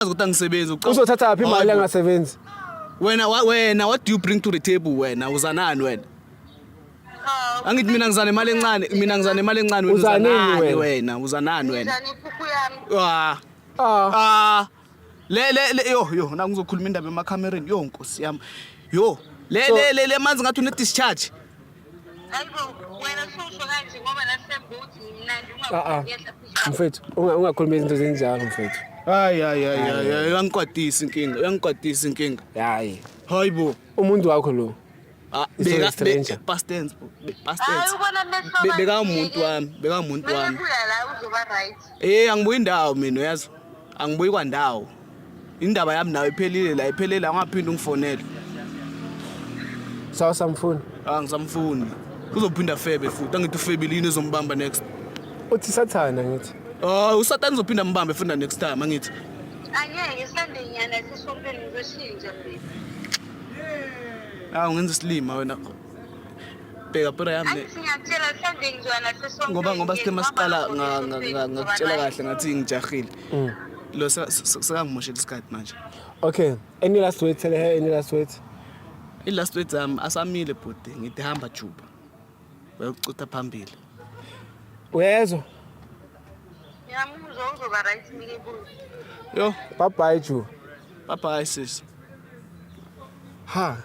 uyazi ukuthi angisebenzi ucabanga- uzothatha phi imali Hayi bo. angasebenzi wena wa- wena what do you bring to the table wena uzanani wena Cha, angithi mina ngizana imali encane mina ngizana imali encane wena Uzanini uzanani wena? wena uzanani wena Ngizana inkukhu yami. ah ah ah le le le yo yo na ngizokhuluma indaba emakhamereni yo nkosi yami yo le So- le le le manzi ngathi une discharge Ah, ah. mfethu ungakhuluma izinto zinjalo mfethu hayi hayi hayi hayi uyangikwatisa inkinga uyangikwatisa inkinga hayi hayi bo umuntu wakho lo ah, bekamuntu wami bekamuntu wami eh angibuyi ndawo mina uyazi angibuyi kwandawo indaba yami nawe iphelile la iphelele angaphinde ungifonele sawa samfuni angisamfuni ah, uzophinda febe futhi angithi ufebile yini ezombamba next uthi sathana ngithi oh usatana uzophinda mbambe funda next time angithi angeke sande nyana sisompeni ngoshintsha mina awu ngenza isilima wena bheka pera yami Ayi singakutshela mhlawumbe ngizwa nathi sonke. ngoba ngoba sithe ngiyezwa masiqala abafuni nga- nga- ukuthi nga- ngakutshela ngizwa kahle ngathi ngijahile Mm. lo seka- se- sekangimoshela isikhathi manje okay any last word tell her any last word i-last word zami asamile bhuti ngithi hamba juba wayokucutha phambili uyezwa nathi. Ngiyamuzwa uzoba right ngike kuye. yo bye bye ju bye bye sis ha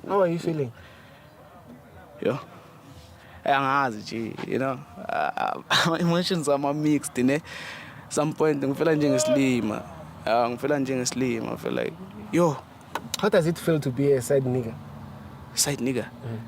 How are you feeling? Yo. Hey, angazi nje, you know. Uh, uh, emotions are my mixed, ne. Some point ngifela njengesilima. Uh, ngifela njengesilima, I feel like, yo. How does it feel to be a side nigga? Side nigga? Mm.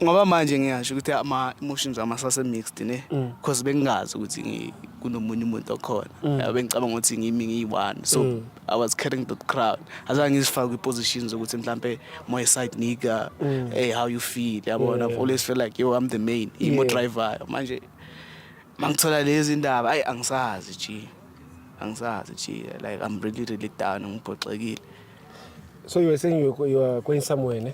ngoba manje ngiyasho ukuthi ama emotions ama sase mixed ne mm. because bengingazi ukuthi kunomunye umuntu okhona mm. bengicabanga ukuthi ngimi ngiyi-one so mm. i was carrying the crowd azange ngizifake kwi-position zokuthi mhlampe my side nigga mm. hey how you feel yabona yeah. always feel like yo i'm the main imo yeah. driver manje mangithola lezi ndaba ayi angisazi ji angisazi ji like i'm really really down ngibhoxekile so you were saying you were, you were going somewhere ne